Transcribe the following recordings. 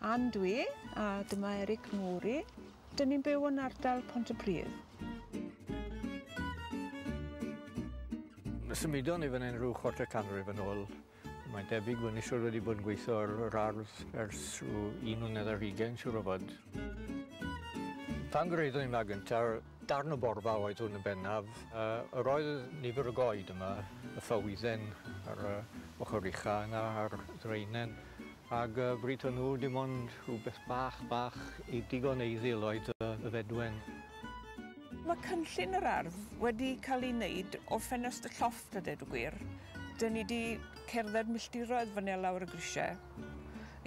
Ann dwi, a dyma Eric Mori. Dyn ni'n byw yn ardal Pont y Pridd. Symudon ni fan hyn rhyw chwarter canrif yn ôl. Mae'n debyg bod ni siwr wedi bod yn gweithio ar yr ardd ers rhyw un mlynedd ar hugain, siwr o fod. Pan gyraeddwn i'n ma gyntaf, Darn o borfa oedd hwn yn bennaf. Yr oedd nifer o goed yma, y ffawyddyn ar y ochr ucha' yna a'r ddraenen ag yy bryd hwnnw dim ond rhywbeth bach bach i digon eiddil oedd yy y fedwen. Mae cynllun yr ardd wedi cael ei wneud o ffenest y llofft a deud y gwir. Dyn ni 'di cerdded milltiroedd fan 'ne lawr y grisiau.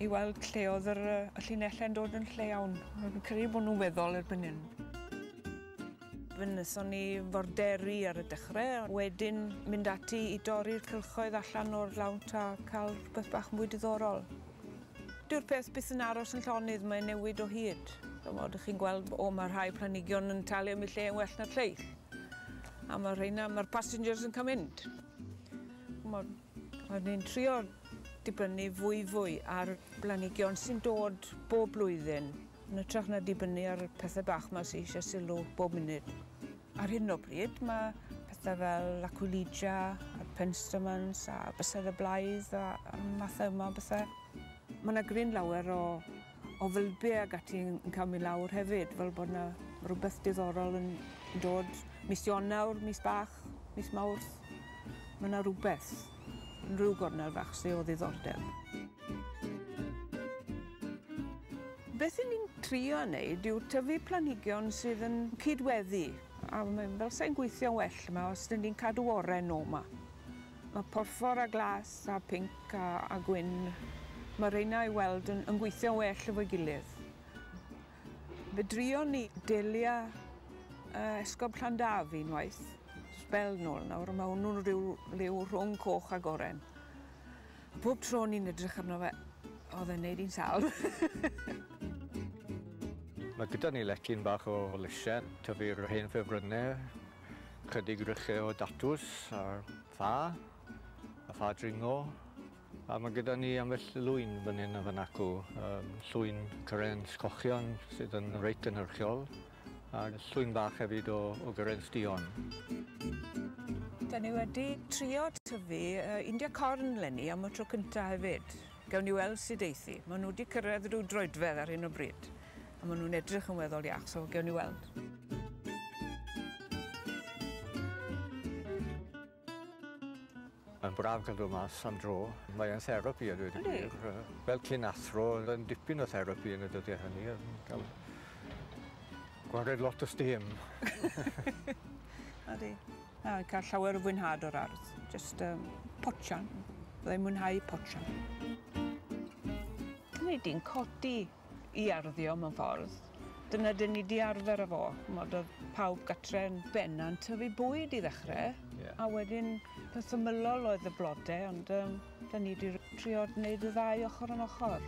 i weld lle oedd yr, y llinelle'n dod yn lle iawn. Fi'n credu bod nhw'n weddol erbyn hyn. Fe wnaethon ni forderi ar y dechrau, wedyn mynd ati i dorri'r cylchoedd allan o'r lawnt a cael rhywbeth bach mwy diddorol. Dyw'r peth byth yn aros yn llonydd, mae'n newid o hyd. Mod chi'n gweld, o mae rhai planigion yn talu am y lle yn well na'r lleill. A mae rheina, mae'r passengers yn cael mynd. Mod, Rydyn ni'n trio dibynnu fwyfwy ar blanhigion sy'n dod bob blwyddyn, yn ytrach na dibynnu ar pethau bach ma sy eisiau sylw bob munud. Ar hyn o bryd mae pethau fel Aquilegia a'r Penstemons a Bysedd y Blaidd a mathau yma o bethau. Mae yna gryn lawer o o fylbie ag ati yn yn ca'l myn' lawr hefyd fel bod 'na rwbeth diddorol yn yn dod mis Ionawr mis bach mis Mawrth ma' 'na rwbeth yn ryw gornel fach sy o ddiddordeb. Beth 'yn ni'n trio neud yw tyfu planhigion sydd yn cyd-weddi a ma' fel sai'n gweithio'n well 'ma os 'dyn ni'n cadw oren o 'ma. Mae porffor a glas a pinc a, a gwyn, mae rheina i weld yn, yn gweithio'n well efo'i gilydd. Fe drion ni delia uh, esgob Llandaf unwaith, sbel nôl nawr, mae hwnnw'n rhyw liw rhwng coch a goren. A pob tro ni'n edrych arno fe, oedd e'n neud i'n sal. Mae gyda ni lecyn bach o lysiau, tyfu'r hen ffefrynnau, Chydig rychau o datws ar ffa, a ffa dringo. A mae gyda ni ambell lwyn fan hyn a fan acw. Um, llwyn cyrens cochion sydd yn reit gynhyrchiol, a llwyn bach hefyd o, o gyrens dion. Da ni wedi trio tyfu uh, India corn lenni am y tro cyntaf hefyd. Gawn ni weld sut eith hi. Maen nhw wedi cyrraedd rhyw droedfedd ar hyn o bryd a maen nhw'n edrych yn weddol iach, so gawn ni weld. Mae'n braf cael dod mas am dro. Mae e'n therapi a dweud y gwir. Fel cyn athro, oedd e'n dipyn o therapi yn y dyddiau hynny. Gael gwared lot o stêm. Odi. Na, fi'n cael llawer o fwynhad o'r ardd. Just um, potsian. Byddai'n mwynhau potsian. Nid i'n codi i arddio mewn ffordd. Dyna dyn ni di arfer â fo. Mod oedd pawb gatre'n benna'n tyfu bwyd i ddechrau, yeah. a wedyn peth ymylol oedd y blodau, ond um, dyn ni di trio wneud y ddau ochr yn ochr.